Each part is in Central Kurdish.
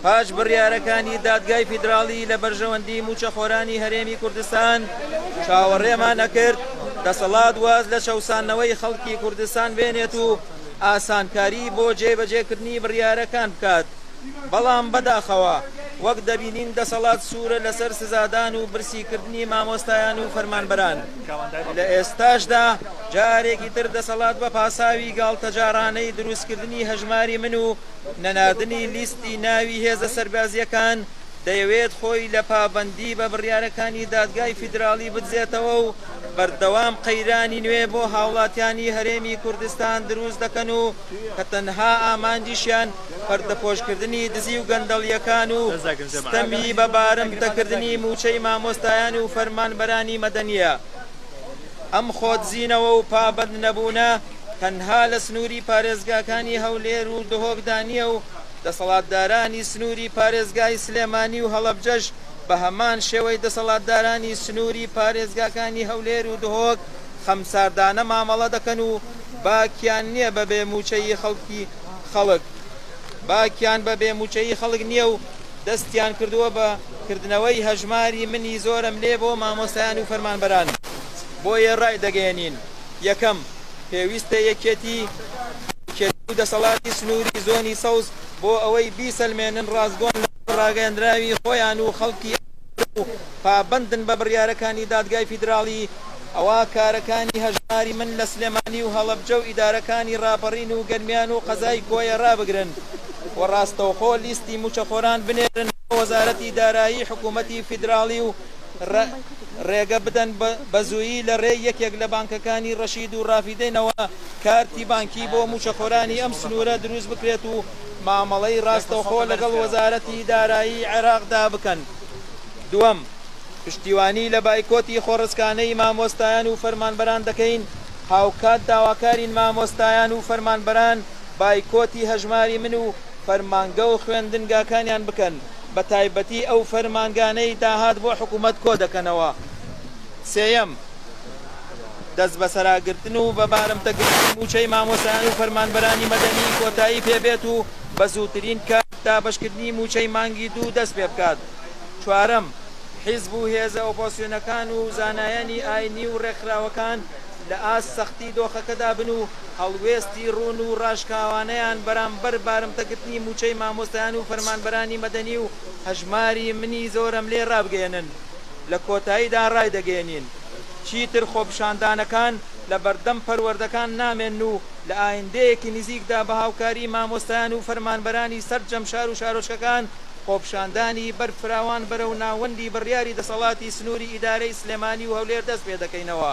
پاش بڕیارەکانی دادگای فیدراڵی لە بەرژەوەندی مووچەخۆرانی هەرێمی کوردستان چاوەڕێمان ئەکرد دەسەڵات واز لە چەوسانەوەی خەڵکی کوردستان بێنێت و ئاسانکاری بۆ جێبەجێکردنی بڕیارەکان بکات بەڵام بەداخەوە وەک دەبینین دەسەڵات سوورە لەسەر سزادان و برسیکردنی مامۆستایان و فەرمانبەران لە ئێستاشدا جارێکی تر دەسەڵات بە پاساوی گاڵتەجارانەی دروستکردنی هەژماری من و نەناردنی لیستی ناوی هێزە سەربازییەکان دەیەوێت خۆی لە پابەندی بە بڕیارەکانی دادگای فیدراڵی بدزێتەوە و بەردەوام قەیرانی نوێ بۆ هاوڵاتیانی هەرێمی کوردستان دروست دەکەن و کە تەنها ئامانجیشیان پەردەپۆشکردنی دزی و گەندەڵیەکان و ستەمی بە بارمتەکردنی موچەی مامۆستایان و فەرمانبەرانی مەدەنیە ئەم خۆدزینەوە و پابەند نەبوونە تەنها لە سنووری پارێزگاکانی هەولێر و دهۆکدا نییە و دەسەڵاتدارانی سنووری پارێزگای سلێمانی و هەڵەبجەش بە هەمان شێوەی دەسەڵاتدارانی سنووری پارێزگاکانی هەولێر و دهۆک خەمساردانە مامەڵە دەکەن و باکیان نییە بە بێ مووچەی خەڵکی خەڵک باکیان بە بێ مووچەی خەڵک نییە و دەستیان کردووە بە کردنەوەی هەژماری منی زۆرەملێ بۆ مامۆستایان و فەرمانبەران بۆیە ڕایدەگەیەنین یەکەم، پێویستە یەکێتی و دەسەڵاتی سنووری زۆنی سەوز بۆ ئەوەی بیسەلمێنن ڕاستگۆن لەسەر ڕاگەیەندراوی خۆیان و خەڵکی ئەم ناوچە و پابەندن بە بڕیارەکانی دادگای فیدراڵی، ئەوا کارەکانی هەژماری من لە سلێمانی و هەڵەبجە و ئیدارەکانی ڕاپەڕین و گەرمیان و قەزای کۆیە ڕابگرن و ڕاستەوخۆ لیستی مووچەخۆران بنێرن بۆ وەزارەتی دارایی حکوومەتی فیدراڵی و ڕێگە بدەن بەزوویی لە ڕێی یەکێک لە بانکەکانی ڕەشید و ڕافیدەینەوە کارتی بانکی بۆ مووچەخۆرانی ئەم سنوورە دروست بکرێت و مامەڵەی ڕاستەوخۆ لەگەڵ وەزارەتی دارایی عێراقدا بکەن. دووەم، پشتیوانی لە بایکۆتی خۆڕسکانەی مامۆستایان و فەرمانبەران دەکەین، هاوکات داواکارین مامۆستایان و فەرمانبەران بایکۆتی هەژماری من و فەرمانگە و خوێندنگاکانیان بکەن. بەتایبەتی ئەو فەرمانگانەی داهات بۆ حکوومەت کۆدەکەنەوە. سێیەم، دەستبەسەراگرتن و بە بارمتەگرتنی مووچەی مامۆستایان و فەرمانبەرانی مەدەنی کۆتایی پێ بێت و بە زووترین کات دابەشکردنی مووچەی مانگی دوو دەست پێ بکات. چوارەم، حیزب و هێزە ئۆپۆزسیۆنەکان و زانایانی ئایینی و ڕێکخراوەکان لە ئاست سەختی دۆخەکەدا بن و هەڵوێستی ڕوون و ڕاشکاوانەیان بەرامبەر بارمتەگرتنی مووچەی مامۆستایان و فەرمانبەرانی مەدەنی و هەژماری منی زۆرەملێ ڕابگەیەنن لە کۆتاییدا ڕایدەگەیەنین چیتر خۆپیشاندانەکان لە بەردەم پەروەردەکان نامێنن و لە ئایندەیەکی نزیکدا بە هاوکاری مامۆستایان و فەرمانبەرانی سەرجەم شار و شارۆچکەکان خۆپیشاندانی بەرفراوان بەرەو ناوەندی بڕیاری دەسەڵاتی سنووری ئیدارەی سلێمانی و هەولێر دەستپێدەکەینەوە.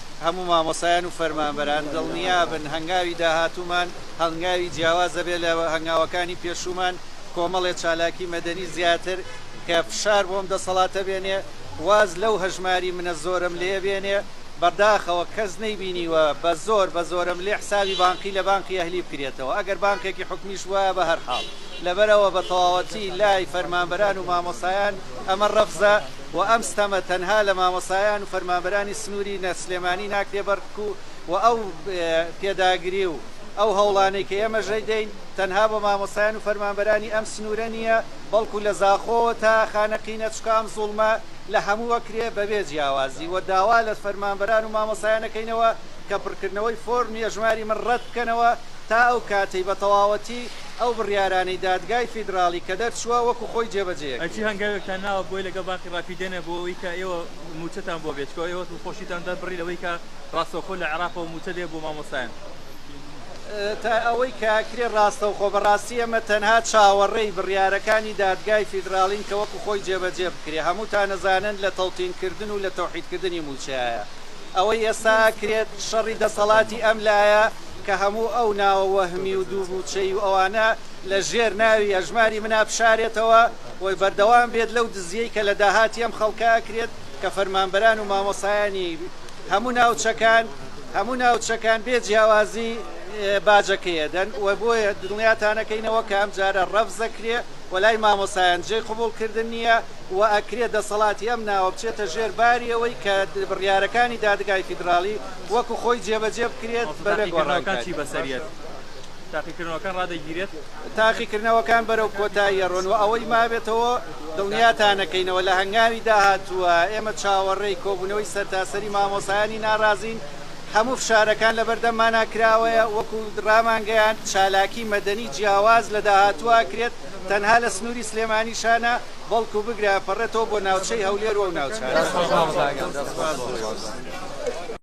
هەموو مامۆستایان و فەرمانبەران دڵنیابن هەنگاوی داهاتوومان هەنگاوی جیاواز دەبێت لە هەنگاوەکانی پێشوومان، کۆمەڵی چالاکی مەدەنی زیاتر کە فشار بۆم دەسەڵاتە بێنێ واز لەو هەژماری منە زۆرەم لێ بێنێ، بەداخەوە کەس نەیبینیوە بە زۆر بە زۆرەم لێ حسابی بانقی لە بانقی ئەهلی بکرێتەوە ئەگەر بانقێکی حکومیش بوایە بە هەرحاڵ لەبەرئەوە بە تەواوەتی لای فەرمانبەران و مامۆستایان ئەمە رەفزە، و ئەم ستەمە تەنها لە مامۆستایان و فەرمانبەرانی سنوری نە سلێمانی ناکرێ بەر بکو و ئەو پێداگری و ئەو هەوڵانەی کە ئێمە ژەی دەین تەنها بۆ مامۆستایان و فەرمانبەرانی ئەم سنورە نیە بەڵکو لە زاخۆوە تا خانەقینە چکە ئەم زوڵمە لە هەمو ئەکرێ بە بێ جیاوازی و داوا لە فەرمانبەران و مامۆستایان ئەکەینەوە کە پرکردنەوەی فۆرمی ئەژماری من ڕەت بکەنەوە تا ئەو کاتەی بە تەواوەتی ئەو بڕیارانەی دادگای فیدراڵی کە دەرچووە وەکو خۆی جێبەجێ ئەکرێت. ئەرچی هەنگاوێکتان ناوە بۆی لەگەڵ بانقی ڕاپیدەنە بۆ ئەوەی کە ئێوە مووچەتان بۆ بێت چکۆ ئێوە دڵخۆشیتان دەر بڕی لەوەی کە ڕاستەوخۆ لە عێراقەوە مووچە بێ بۆ مامۆستایان. تا ئەوەی کە ئەکرێ ڕاستەوخۆ بەڕاستی ئێمە تەنها چاوەڕێی بڕیارەکانی دادگای فیدراڵین کە وەکو خۆی جێبەجێ بکرێ هەمووتان ئەزانن لە تەوتین کردن و لە تەوحید کردنی مووچەیە ئەوەی ئێستا ئەکرێت شەڕی دەسەڵاتی ئەم لایە کە هەموو ئەو ناوە وەهمی و دوو مووچەی و ئەوانە لە ژێر ناوی ئەژماری منا بشارێتەوە و بەردەوام بێت لەو دزیەی کە لە داهاتی ئەم خەڵکە ئەکرێت کە فەرمانبەران و مامۆستایانی هەموو ناوچەکان هەموو ناوچەکان بێ جیاوازی باجەکەی ئەدەن و بۆیە دڵنیاتان ئەکەینەوە کە ئەم جارە ڕەفز ئەکرێ و لای مامۆستایان جێی قبوڵ کردن نییە و ئەکرێ دەسەڵاتی ئەم ناوە بچێتە ژێر باری ئەوەی کە بڕیارەکانی دادگای فیدراڵی وەکو خۆی جێبەجێ بکرێت بەبێ گۆڕانکاری. تاقیکردنەوەکان بەرەو کۆتایی ئەڕۆن و ئەوەی مابێتەوە دڵنیاتانەکەینەوە لە هەنگاوی داهاتووە ئێمە چاوەڕێی کۆبوونەوەی سەرتاسەری مامۆسایانی ناڕازین، هەموو فشارەکان لەبەردەممانا کراوەیە، وەکو ڕامانگەیاند چالاکی مەدەنی جیاواز لە داهاتوو ئەکرێت تەنها لە سنووری سلێمانیشا نا، بەڵکو بگرە ئەپەڕێتەوە بۆ ناوچەی هەولێر و ئەو ناوچانە.